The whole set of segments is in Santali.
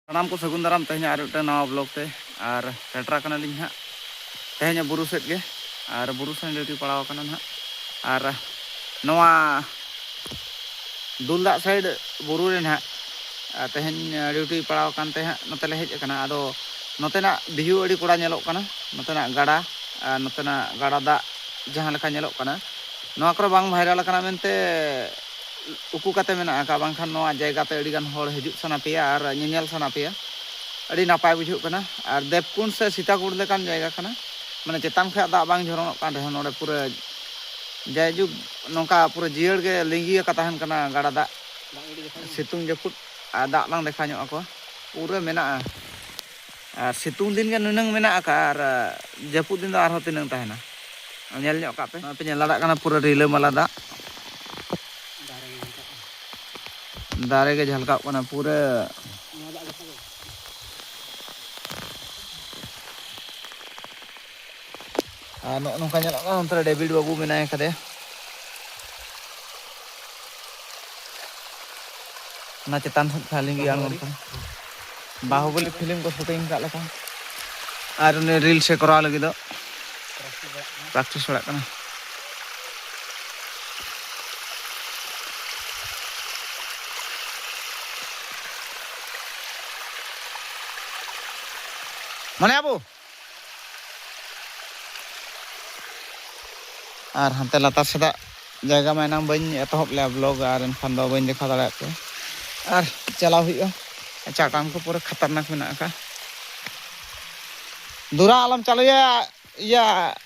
ᱥᱟᱱᱟᱢ ᱠᱚ ᱥᱟᱹᱜᱩᱱ ᱫᱟᱨᱟᱢ ᱛᱮᱦᱮᱧ ᱟᱨ ᱢᱤᱫᱴᱟᱝ ᱱᱟᱣᱟ ᱵᱞᱚᱜ ᱛᱮ ᱟᱨ ᱥᱮᱴᱮᱨ ᱟᱠᱟᱱᱟᱞᱤᱧ ᱦᱟᱸᱜ ᱛᱮᱦᱮᱧ ᱵᱩᱨᱩ ᱥᱮᱫ ᱜᱮ ᱟᱨ ᱵᱩᱨᱩ ᱥᱮᱱ ᱰᱤᱭᱩᱴᱤ ᱯᱟᱲᱟᱣ ᱟᱠᱟᱱᱟ ᱦᱟᱸᱜ ᱟᱨ ᱱᱚᱣᱟ ᱫᱩᱞ ᱫᱟᱜ ᱥᱟᱭᱤᱰ ᱵᱩᱨᱩ ᱨᱮ ᱦᱟᱸᱜ ᱛᱮᱦᱮᱧ ᱰᱤᱭᱩᱴᱤ ᱯᱟᱲᱟᱣ ᱟᱠᱟᱱ ᱛᱮ ᱦᱟᱸᱜ ᱱᱚᱛᱮ ᱞᱮ ᱦᱮᱡ ᱟᱠᱟᱱᱟ ᱟᱫᱚ ᱱᱚᱛᱮᱱᱟᱜ ᱵᱷᱤᱭᱩ ᱟᱹᱰᱤ ᱠᱚᱲᱟ ᱧᱮᱞᱚᱜ ᱠᱟᱱᱟ ᱱᱚᱛᱮᱱᱟᱜ ᱜᱟᱰᱟ ᱟᱨ ᱱᱚᱛᱮᱱᱟᱜ ᱜᱟᱰᱟ ᱫᱟᱜ ᱡᱟᱦᱟᱸ ᱞᱮᱠᱟ ᱧᱮᱞᱚᱜ ᱠᱟᱱᱟ ᱱᱚᱣᱟ ᱠᱚᱨᱮ ᱵᱟᱝ ᱵᱷᱟᱭᱨᱟᱞ ᱟᱠᱟᱱᱟ ᱢᱮᱱᱛᱮ ᱩᱠᱩ ᱠᱟᱛᱮ ᱢᱮᱱᱟᱜ ᱟᱠᱟᱫ ᱵᱟᱝᱠᱷᱟᱱ ᱱᱚᱣᱟ ᱡᱟᱭᱜᱟ ᱛᱮ ᱟᱹᱰᱤ ᱜᱟᱱ ᱦᱚᱲ ᱦᱤᱡᱩᱜ ᱥᱟᱱᱟ ᱯᱮᱭᱟ ᱟᱨ ᱧᱮᱧᱮᱞ ᱥᱟᱱᱟ ᱯᱮᱭᱟ ᱟᱹᱰᱤ ᱱᱟᱯᱟᱭ ᱵᱩᱡᱷᱟᱹᱜ ᱠᱟᱱᱟ ᱟᱨ ᱫᱮᱵᱽᱠᱩᱸᱰ ᱥᱮ ᱥᱤᱛᱟᱠᱩᱸᱰ ᱞᱮᱠᱟᱱ ᱡᱟᱭᱜᱟ ᱠᱟᱱᱟ ᱢᱟᱱᱮ ᱪᱮᱛᱟᱱ ᱠᱷᱚᱱᱟᱜ ᱫᱟᱜ ᱵᱟᱝ ᱡᱷᱚᱨᱚᱱᱚᱜ ᱠᱟᱱ ᱨᱮᱦᱚᱸ ᱱᱚᱰᱮ ᱯᱩᱨᱟᱹ ᱡᱟᱭᱡᱩᱜᱽ ᱱᱚᱝᱠᱟ ᱯᱩᱨᱟᱹ ᱡᱤᱭᱟᱹᱲ ᱜᱮ ᱞᱤᱸᱜᱤ ᱟᱠᱟ ᱛᱟᱦᱮᱱ ᱠᱟᱱᱟ ᱜᱟᱰᱟ ᱫᱟᱜ ᱥᱤᱛᱩᱝ ᱡᱟᱹᱯᱩᱫ ᱟᱨ ᱫᱟᱜ ᱵᱟᱝ ᱫᱮᱠᱷᱟᱣ ᱧᱚᱜ ᱟᱠᱚᱣᱟ ᱯᱩᱨᱟᱹ ᱢᱮᱱᱟᱜᱼᱟ ᱟᱨ ᱥᱤᱛᱩᱝ ᱫᱤᱱ ᱜᱮ ᱱᱩᱱᱟᱹᱝ ᱢᱮᱱᱟᱜ ᱟᱠᱟᱫᱼᱟ ᱟᱨ ᱡᱟᱹᱯᱩᱫ ᱫᱤᱱ ᱫᱚ ᱟᱨᱦᱚᱸ ᱛᱤᱱᱟᱹᱝ ᱛᱟᱦᱮᱱᱟ ᱧᱮᱞ ᱧᱚᱜ ᱠᱟᱜ ᱯᱮ ᱱᱚᱜᱼᱚᱭ ᱯᱮ ᱧᱮᱞ ᱫᱟᱲᱮᱭᱟᱜ ᱠᱟᱱᱟ ᱯᱩᱨᱟᱹ ᱨᱤᱞᱟᱹᱢᱟᱞᱟ ᱫᱟᱜ ᱫᱟᱨᱮ ᱜᱮ ᱡᱷᱟᱞᱠᱟᱜ ᱠᱟᱱᱟ ᱯᱩᱨᱟᱹ ᱟᱨ ᱱᱚᱜᱼᱚ ᱱᱚᱝᱠᱟ ᱧᱮᱞᱚᱜ ᱠᱟᱱᱟ ᱚᱱᱛᱮ ᱨᱮ ᱰᱮᱵᱷᱤᱰ ᱵᱟᱹᱵᱩ ᱢᱮᱱᱟᱭ ᱠᱟᱫᱮᱭᱟ ᱚᱱᱟ ᱪᱮᱛᱟᱱ ᱥᱮᱫ ᱠᱷᱚᱱ ᱞᱤᱸᱜᱤ ᱟᱬᱜᱚᱱ ᱠᱟᱱᱟ ᱵᱟᱦᱩᱵᱚᱞᱤ ᱯᱷᱤᱞᱢ ᱠᱚ ᱥᱩᱴᱤᱝ ᱠᱟᱜ ᱞᱮᱠᱟ ᱟᱨ ᱩᱱᱤ ᱨᱤᱞᱥ ᱮ ᱠᱚᱨᱟᱣ ᱞᱟᱹᱜᱤᱫ ᱫᱚ ᱯᱨᱮᱠᱴᱤᱥ ᱵᱟᱲᱟᱜ ᱠᱟᱱᱟ ᱢᱚᱱᱮ ᱟᱵᱚ ᱟᱨ ᱦᱟᱱᱛᱮ ᱞᱟᱛᱟᱨ ᱥᱮᱫᱟᱜ ᱡᱟᱭᱜᱟ ᱢᱟ ᱮᱱᱟᱝ ᱵᱟᱹᱧ ᱮᱛᱚᱦᱚᱵ ᱞᱮᱜᱼᱟ ᱵᱞᱚᱜ ᱟᱨ ᱮᱱᱠᱷᱟᱱ ᱫᱚ ᱵᱟᱹᱧ ᱫᱮᱠᱷᱟᱣ ᱫᱟᱲᱮᱭᱟᱜ ᱯᱮ ᱟᱨ ᱪᱟᱞᱟᱣ ᱦᱩᱭᱩᱜᱼᱟ ᱪᱟᱴᱟᱱ ᱠᱚ ᱯᱩᱨᱟᱹ ᱠᱷᱟᱛᱟᱨᱱᱟᱠ ᱢᱮᱱᱟᱜ ᱟᱠᱟᱫ ᱫᱩᱨᱟ ᱟᱞᱚᱢ ᱪᱟᱞᱩᱭᱟ ᱤᱭᱟᱹ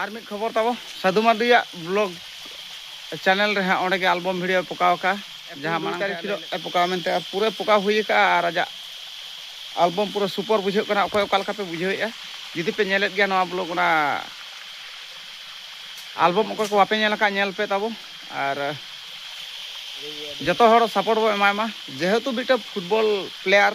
ᱟᱨ ᱢᱤᱫ ᱠᱷᱚᱵᱚᱨ ᱛᱟᱵᱚ ᱥᱟᱫᱷᱩ ᱢᱟᱨᱰᱤᱭᱟᱜ ᱵᱞᱚᱜ ᱪᱮᱱᱮᱞ ᱨᱮ ᱦᱟᱸᱜ ᱚᱸᱰᱮ ᱜᱮ ᱟᱞᱵᱚᱢ ᱵᱷᱤᱰᱤᱭᱳ ᱯᱚᱠᱟᱣ ᱟᱠᱟᱫᱼᱟ ᱡᱟᱦᱟᱸ ᱢᱟᱲᱟᱝ ᱛᱟᱹᱨᱤᱠᱷ ᱦᱤᱞᱳᱜ ᱮ ᱯᱚᱠᱟᱣ ᱢᱮᱱᱛᱮ ᱟᱨ ᱯᱩᱨᱟᱹ ᱯᱚᱠᱟᱣ ᱦᱩᱭ ᱟᱠᱟᱫᱼᱟ ᱟᱨ ᱟᱡᱟᱜ ᱟᱞᱵᱚᱢ ᱯᱩᱨᱟᱹ ᱥᱩᱯᱚᱨ ᱵᱩᱡᱷᱟᱹᱜ ᱠᱟᱱᱟ ᱚᱠᱚᱭ ᱚᱠᱟ ᱞᱮᱠᱟ ᱯᱮ ᱵᱩᱡᱷᱟᱹᱣᱮᱫᱼᱟ ᱡᱩᱫᱤ ᱯᱮ ᱧᱮᱞᱮᱫ ᱜᱮᱭᱟ ᱱᱚᱣᱟ ᱵᱞᱚᱜ ᱚᱱᱟ ᱟᱞᱵᱚᱢ ᱚᱠᱚᱭ ᱠᱚ ᱵᱟᱯᱮ ᱧᱮᱞ ᱟᱠᱟᱫ ᱧᱮᱞ ᱯᱮ ᱛᱟᱵᱚ ᱟᱨ ᱡᱚᱛᱚ ᱦᱚᱲ ᱥᱟᱯᱳᱨᱴ ᱵᱚ ᱮᱢᱟᱭ ᱢᱟ ᱡᱮᱦᱮᱛᱩ ᱢᱤᱫᱴᱮᱱ ᱯᱷᱩᱴᱵᱚᱞ ᱯᱞᱮᱭᱟᱨ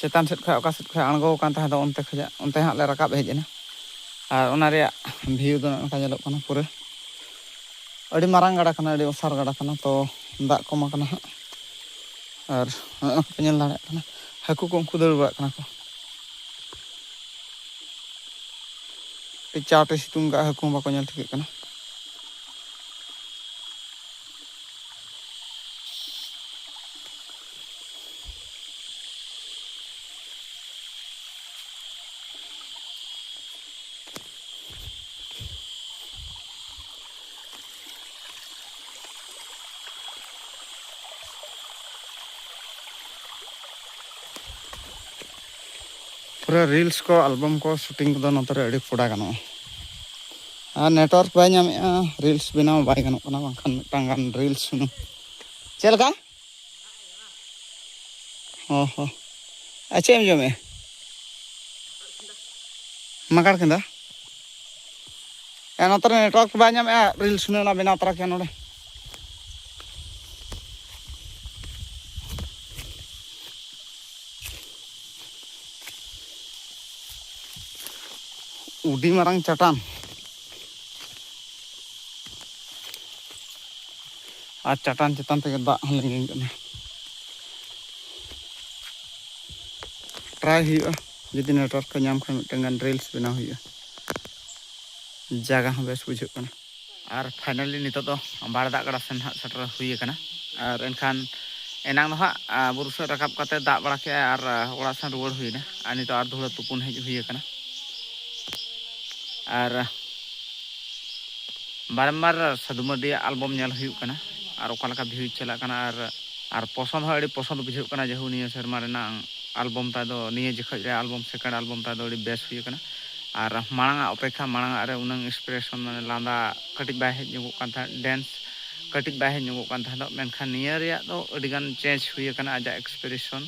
ᱪᱮᱛᱟᱱ ᱥᱮᱫ ᱠᱷᱚᱱ ᱚᱠᱟ ᱥᱮᱫ ᱠᱷᱚᱱ ᱟᱬᱜᱚ ᱟᱠᱟᱱ ᱛᱟᱦᱮᱸ ᱫᱚ ᱚᱱᱛᱮ ᱠᱷᱚᱱ ᱚᱱᱛᱮ ᱦᱟᱸᱜ ᱞᱮ ᱨᱟᱠᱟᱵ ᱦᱮᱡ ᱮᱱᱟ ᱟᱨ ᱚᱱᱟ ᱨᱮᱭᱟᱜ ᱵᱷᱤᱭᱩ ᱫᱚ ᱱᱚᱝᱠᱟ ᱧᱮᱞᱚᱜ ᱠᱟᱱᱟ ᱯᱩᱨᱟᱹ ᱟᱹᱰᱤ ᱢᱟᱨᱟᱝ ᱜᱟᱰᱟ ᱠᱟᱱᱟ ᱟᱹᱰᱤ ᱚᱥᱟᱨ ᱜᱟᱰᱟ ᱠᱟᱱᱟ ᱛᱚ ᱫᱟᱜ ᱠᱚᱢ ᱟᱠᱟᱱᱟ ᱦᱟᱸᱜ ᱟᱨ ᱱᱚᱜᱼᱚ ᱱᱚᱝᱠᱟ ᱧᱮᱞ ᱫᱟᱲᱮᱭᱟᱜ ᱠᱟᱱᱟ ᱦᱟᱹᱠᱩ ᱠᱚ ᱩᱱᱠᱩ ᱫᱟᱹᱲ ᱵᱟᱲᱟᱜ ᱠᱟᱱᱟ ᱠᱚ ᱟᱹᱰᱤ ᱪᱟᱴᱮ ᱥᱤᱛᱩᱝ ᱠᱟᱜᱼᱟ ᱦᱟᱹᱠᱩ ᱦᱚᱸ ᱵᱟᱠᱚ ᱧᱮᱞ ᱴᱷᱤᱠᱟᱹᱜ ᱠᱟᱱᱟ ᱯᱩᱨᱟᱹ ᱨᱤᱞᱥ ᱠᱚ ᱟᱞᱵᱟᱢ ᱠᱚ ᱥᱩᱴᱤᱝ ᱠᱚᱫᱚ ᱱᱚᱛᱮ ᱨᱮ ᱟᱹᱰᱤ ᱠᱚᱰᱟ ᱜᱟᱱᱚᱜᱼᱟ ᱟᱨ ᱱᱮᱴᱣᱟᱨᱠ ᱵᱟᱭ ᱧᱟᱢᱮᱫᱼᱟ ᱨᱤᱞᱥ ᱵᱮᱱᱟᱣ ᱵᱟᱭ ᱜᱟᱱᱚᱜ ᱠᱟᱱᱟ ᱵᱟᱝᱠᱷᱟᱱ ᱢᱤᱫᱴᱟᱝ ᱜᱟᱱ ᱨᱤᱞᱥ ᱦᱩᱱᱟᱹᱝ ᱪᱮᱫ ᱞᱮᱠᱟ ᱦᱚᱸ ᱦᱚᱸ ᱟᱨ ᱪᱮᱫ ᱮᱢ ᱡᱚᱢᱮᱫᱼᱟ ᱢᱟᱜᱟᱲ ᱠᱮᱸᱫᱟ ᱮ ᱱᱚᱛᱮ ᱨᱮ ᱱᱮᱴᱣᱟᱨᱠ ᱵᱟᱭ ᱧᱟᱢᱮᱫᱼᱟ ᱨᱤᱞᱥ ᱦᱩᱱᱟᱹᱝ ᱚᱱᱟ ᱵᱮᱱᱟᱣ ᱛᱚᱨᱟ ᱠᱮᱭᱟ ᱱᱚᱰᱮ ᱩᱰᱤ ᱢᱟᱨᱟᱝ ᱪᱟᱴᱟᱱ ᱟᱨ ᱪᱟᱴᱟᱱ ᱪᱮᱛᱟᱱ ᱛᱮᱜᱮ ᱫᱟᱜ ᱦᱚᱸ ᱞᱤᱸᱜᱤᱱ ᱠᱟᱱᱟ ᱴᱨᱟᱭ ᱦᱩᱭᱩᱜᱼᱟ ᱡᱩᱫᱤ ᱱᱮᱴᱣᱟᱨᱠ ᱠᱚ ᱧᱟᱢ ᱠᱷᱟᱱ ᱢᱤᱫᱴᱟᱝ ᱜᱟᱱ ᱨᱤᱞᱥ ᱵᱮᱱᱟᱣ ᱦᱩᱭᱩᱜᱼᱟ ᱡᱟᱭᱜᱟ ᱦᱚᱸ ᱵᱮᱥ ᱵᱩᱡᱷᱟᱹᱜ ᱠᱟᱱᱟ ᱟᱨ ᱯᱷᱟᱭᱱᱟᱞᱤ ᱱᱤᱛᱚᱜ ᱫᱚ ᱵᱟᱲ ᱫᱟᱜ ᱜᱟᱰᱟ ᱥᱮᱱ ᱦᱟᱸᱜ ᱥᱮᱴᱮᱨ ᱦᱩᱭ ᱟᱠᱟᱱᱟ ᱟᱨ ᱮᱱᱠᱷᱟᱱ ᱮᱱᱟᱝ ᱫᱚ ᱦᱟᱸᱜ ᱵᱩᱨᱩ ᱥᱮᱫ ᱨᱟᱠᱟᱵ ᱠᱟᱛᱮ ᱫᱟᱜ ᱵᱟᱲᱟ ᱠᱮᱜᱼᱟ ᱟᱨ ᱚᱲᱟᱜ ᱥᱮᱱ ᱨᱩᱣᱟᱹᱲ ᱦᱩᱭᱱᱟ ᱟᱨ ᱱᱤᱛᱚᱜ ᱟᱨ ᱫᱷᱩᱲᱟᱹ ᱛᱩᱯᱩᱱ ᱦᱮᱡ ᱦᱩᱭ ᱟᱠᱟᱱᱟ ᱟᱨ ᱵᱟᱨᱮᱢᱵᱟᱨ ᱥᱟᱹᱫᱷᱩ ᱢᱟᱨᱰᱤᱭᱟᱜ ᱟᱞᱵᱚᱢ ᱧᱮᱞ ᱦᱩᱭᱩᱜ ᱠᱟᱱᱟ ᱟᱨ ᱚᱠᱟ ᱞᱮᱠᱟ ᱵᱷᱤᱭᱩᱡᱽ ᱪᱟᱞᱟᱜ ᱠᱟᱱᱟ ᱟᱨ ᱟᱨ ᱯᱚᱥᱚᱱᱫ ᱦᱚᱸ ᱟᱹᱰᱤ ᱯᱚᱥᱚᱱᱫ ᱵᱩᱡᱷᱟᱹᱜ ᱠᱟᱱᱟ ᱡᱮᱦᱩ ᱱᱤᱭᱟᱹ ᱥᱮᱨᱢᱟ ᱨᱮᱱᱟᱜ ᱟᱞᱵᱚᱢ ᱛᱟᱭ ᱫᱚ ᱱᱤᱭᱟᱹ ᱡᱚᱠᱷᱚᱡ ᱨᱮ ᱟᱞᱵᱚᱢ ᱥᱮᱠᱮᱱᱰ ᱟᱞᱵᱚᱢ ᱛᱟᱭ ᱫᱚ ᱟᱹᱰᱤ ᱵᱮᱥ ᱦᱩᱭ ᱟᱠᱟᱱᱟ ᱟᱨ ᱢᱟᱲᱟᱝ ᱟᱜ ᱚᱯᱮᱠᱷᱟ ᱢᱟᱲᱟᱝ ᱟᱜ ᱨᱮ ᱩᱱᱟᱹᱝ ᱤᱱᱥᱯᱤᱨᱮᱥᱚᱱ ᱢᱟᱱᱮ ᱞᱟᱸᱫᱟ ᱠᱟᱹᱴᱤᱡ ᱵᱟᱭ ᱦᱮᱡ ᱧᱚᱜᱚᱜ ᱠᱟᱱ ᱛᱟᱦᱮᱸᱫ ᱰᱮᱱᱥ ᱠᱟᱹᱴᱤᱡ ᱵᱟᱭ ᱦᱮᱡ ᱧᱚᱜᱚᱜ ᱠᱟᱱ ᱛᱟᱦᱮᱸᱫ ᱢᱮᱱᱠᱷᱟᱱ ᱱᱤᱭᱟᱹ ᱨᱮᱭᱟᱜ ᱫᱚ ᱟᱹᱰᱤ ᱜᱟᱱ ᱪᱮᱧᱡᱽ ᱦᱩᱭ ᱟᱠᱟᱱᱟ ᱟᱡᱟᱜ ᱤᱱᱥᱯᱤᱨᱮᱥᱚᱱ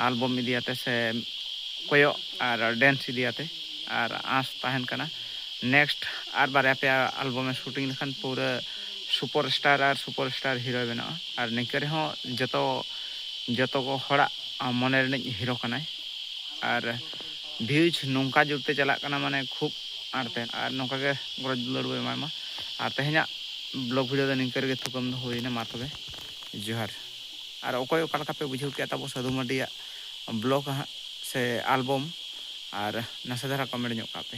ᱟᱞᱵᱚᱢ ᱤᱫᱤ ᱟᱛᱮ ᱥᱮ ᱠᱚᱭᱚᱜ ᱟᱨ ᱰᱮᱱᱥ ᱤᱫᱤ ᱟᱛᱮ ᱟᱨ ᱟᱸᱥ ᱛᱟᱦᱮᱱ ᱠᱟᱱᱟ ᱱᱮᱠᱥᱴ ᱟᱨ ᱵᱟᱨᱭᱟ ᱯᱮᱭᱟ ᱟᱞᱵᱚᱢ ᱮ ᱥᱩᱴᱤᱝ ᱞᱮᱠᱷᱟᱱ ᱯᱩᱨᱟᱹ ᱥᱩᱯᱚᱨ ᱥᱴᱟᱨ ᱟᱨ ᱥᱩᱯᱚᱨ ᱥᱴᱟᱨ ᱦᱤᱨᱳᱭ ᱵᱮᱱᱟᱜᱼᱟ ᱟᱨ ᱱᱤᱝᱠᱟᱹ ᱨᱮᱦᱚᱸ ᱡᱚᱛᱚ ᱡᱚᱛᱚ ᱦᱚᱲᱟᱜ ᱢᱚᱱᱮ ᱨᱤᱱᱤᱡ ᱦᱤᱨᱳ ᱠᱟᱱᱟᱭ ᱟᱨ ᱵᱷᱤᱭᱩᱡᱽ ᱱᱚᱝᱠᱟ ᱡᱳᱨ ᱛᱮ ᱪᱟᱞᱟᱜ ᱠᱟᱱᱟ ᱢᱟᱱᱮ ᱠᱷᱩᱵ ᱟᱸᱴ ᱛᱮ ᱟᱨ ᱱᱚᱝᱠᱟ ᱜᱮ ᱜᱚᱨᱚᱡᱽ ᱫᱩᱞᱟᱹᱲ ᱵᱚ ᱮᱢᱟᱭ ᱢᱟ ᱟᱨ ᱛᱮᱦᱮᱧᱟᱜ ᱵᱞᱚᱜᱽ ᱵᱷᱤᱰᱤᱭᱳ ᱫᱚ ᱱᱤᱝᱠᱟᱹ ᱨᱮᱜᱮ ᱛᱷᱩᱠᱟᱹᱢ ᱫᱚ ᱦᱩᱭ ᱮᱱᱟ ᱢᱟ ᱛᱚᱵᱮ ᱡᱚᱦᱟᱨ ᱟᱨ ᱚᱠᱚᱭ ᱚᱠᱟ ᱞᱮᱠᱟ ᱯᱮ ᱵᱩᱡᱷᱟᱹᱣ ᱠᱮᱫᱼᱟ ᱛᱟᱵᱚ ᱥᱟᱹᱫᱷᱩ ᱢᱟᱹᱨᱰᱤᱭᱟᱜ ᱵᱞᱚᱜᱽ ᱦᱟᱸᱜ ᱥᱮ ᱟᱞᱵᱚᱢ ᱟᱨ ᱱᱟᱥᱮ ᱫᱷᱟᱨᱟ ᱠᱚᱢᱮᱱᱴ ᱧᱚᱜ ᱠᱟᱜ ᱯᱮ